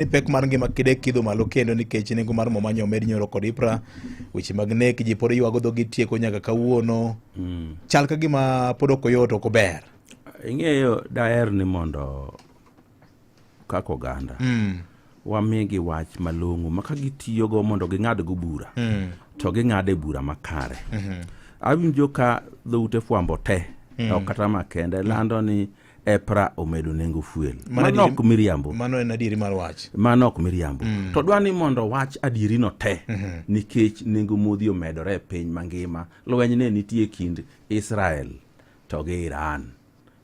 ni pek mar ngima kide kidho malo kendo nikech nengo mar mo manyo med nyoro kod ipra weche mag nek ji pod ywago dhogi tieko nyaka kawuono mm. chal ka gima pod ok oyot ok ober ing'eyo daher ni mondo kaka oganda mm. wamigi wach malong'o ma ka gitiyogo mondo ging'adgo bura mm. to ging'ade bura makare mm -hmm. awinjo ka dhoute fwambo te mm. ok kata makende lando ni mm. EPRA omedo nengo fuel. Mano ok miriambo. Mano en adieri mar wach. Mano ok miriambo. Mm. To dwani mondo wach adieri no te mm -hmm. nikech nengo modhi omedore e piny mangima. Lweny ne nitie kind Israel to gi Iran.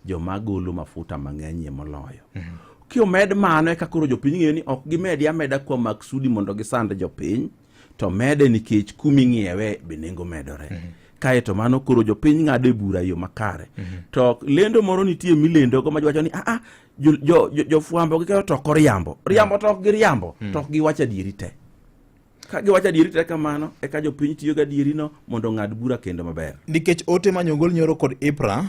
Joma golo mafuta mang'enyie moloyo. Mm -hmm. Kiomed mano eka koro jopiny ng'eyo ni ok gimedi ameda kuom maksudi mondo gisand jopiny. to mede nikech kuma ing'iewe be nengo medore mm -hmm. kae to mano koro jopiny ng'ado e bura yo makare mm -hmm. to lendo moro nitie milendogo ma jwacho ni aa ah, ah, jofwambo jo, jo, jo gikayo toko riambo mhm. riambo mm -hmm. tok gi riambo mm -hmm. tok giwacho adieri te ka giwacho adieri te kamano eka jopiny tiyo gi adierino mondo ong'ad bura kendo maber nikech ote ma nyogol nyoro kod ipra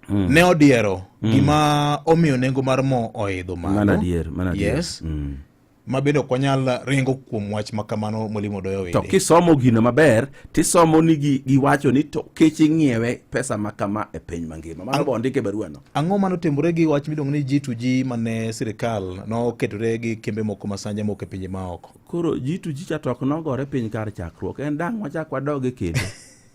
Mm. ne odiero mm. gima omiyo nengo mar mo oidho malo yes mm. ma bende ok wanyal ringo kuom wach ma kamano molimo doyo wede. To kisomo gino maber tisomo ni gi, giwacho ni to kech ing'iewe pesa ma kama e piny mangima mano bo ndike baruano. Ang'o mano timore gi wach miluongo ni G2G mane sirikal noketore gi kembe moko ma sanja moko e pinje maoko. Koro G2G cha to ok nogore piny kar chakruok en dang' wachak wadoge kendo.